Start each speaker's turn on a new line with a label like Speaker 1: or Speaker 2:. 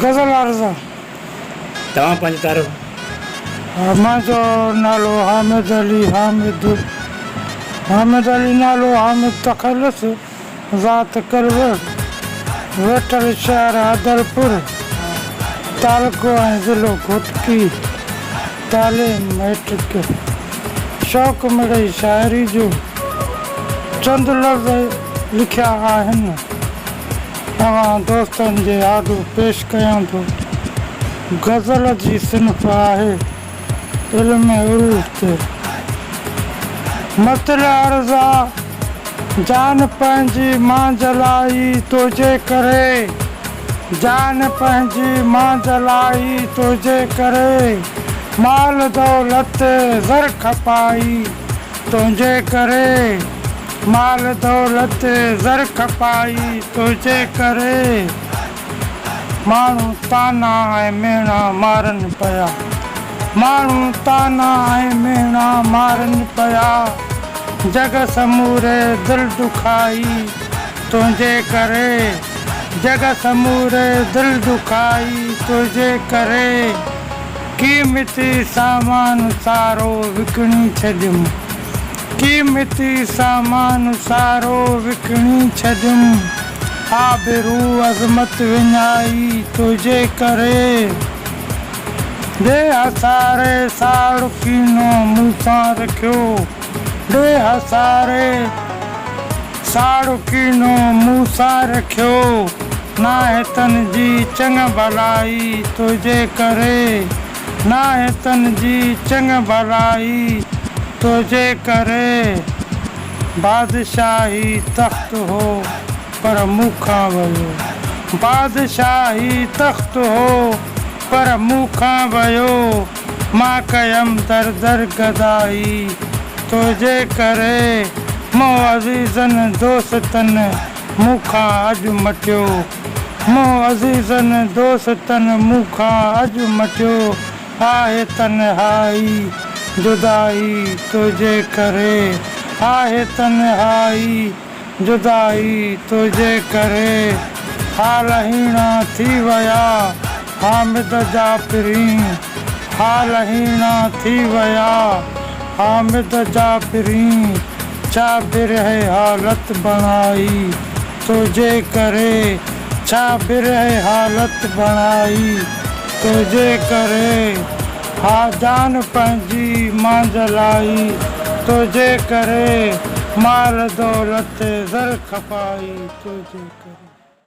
Speaker 1: غزل عارضه.
Speaker 2: توهان پنهنجي تعارف.
Speaker 1: منهنجو نالو حامد علي حامد حامد علي نالو حامد تخلص ذات ڪلوه ويٺل شهر حيدرپور تعلقو ۽ ضلعو گهوٽڪي تعليم مئٽرڪ شوق مڙئي شاعري جو چند لفظ لکيا آهن. اوهان دوستن جي آڏو پيش ڪيان ٿو. غزل جي صنف آهي علم عروض تي مطلع عرضا جان پنهنجي مان جلائي تنهنجي ڪري جان پنهنجي مان جلائي تنهنجي ڪري مال دولت زر کپائي تنهنجي ڪري مال دولت زر کپائي تنهنجي ڪري ماڻهو طعنا ۽ ميڻا مارن پيا ماڻهو طعنا ۽ ميڻا مارن پيا جڳ سموري دل ڏکائي تنهنجي ڪري جڳ سموري دل ڏکائي تنهنجي ڪري. قيمتي سامان سارو وڪڻي ڇڏيم، قيمتي سامان سارو وڪڻي ڇڏيم، آبرو عظمت وڃائي تنهنجي ڪري، ڏي هساري ساڙ ڪينو مون سان رکيو، ڏي هساري. ساڙ ڪينو مون سان رکيو ناهي تن جي چڱ ڀلائي تنهنجي ڪري ناهي تن جي چڱ ڀلائي تنهنجي ڪري بادشاهي تخت هو پر مون کان ويو بادشاهي تخت هو پر مون کان ويو. مان ڪيم در در گدائي تنهنجي ڪري، مون عزيزن دوستن مون کان اڄ مٽيو، مون عزيزن دوستن مون کان اڄ مٽيو، آهي تنهائي جدائي تنهنجي ڪري، آهي تنهائي. جدائي تنهنجي ڪري حال هيڻا ٿي ويا حامد جا پرين حال هيڻا ٿي ويا حامد جا پرين ڇا برهه حالت بڻائي تنهنجي ڪري ڇا برهه حالت بڻائي تنهنجي ڪري. ها جان پنهنجي مانجھ لائي. تنهنجي ڪري مال دولت زر کپائي. تنهنجي ڪري.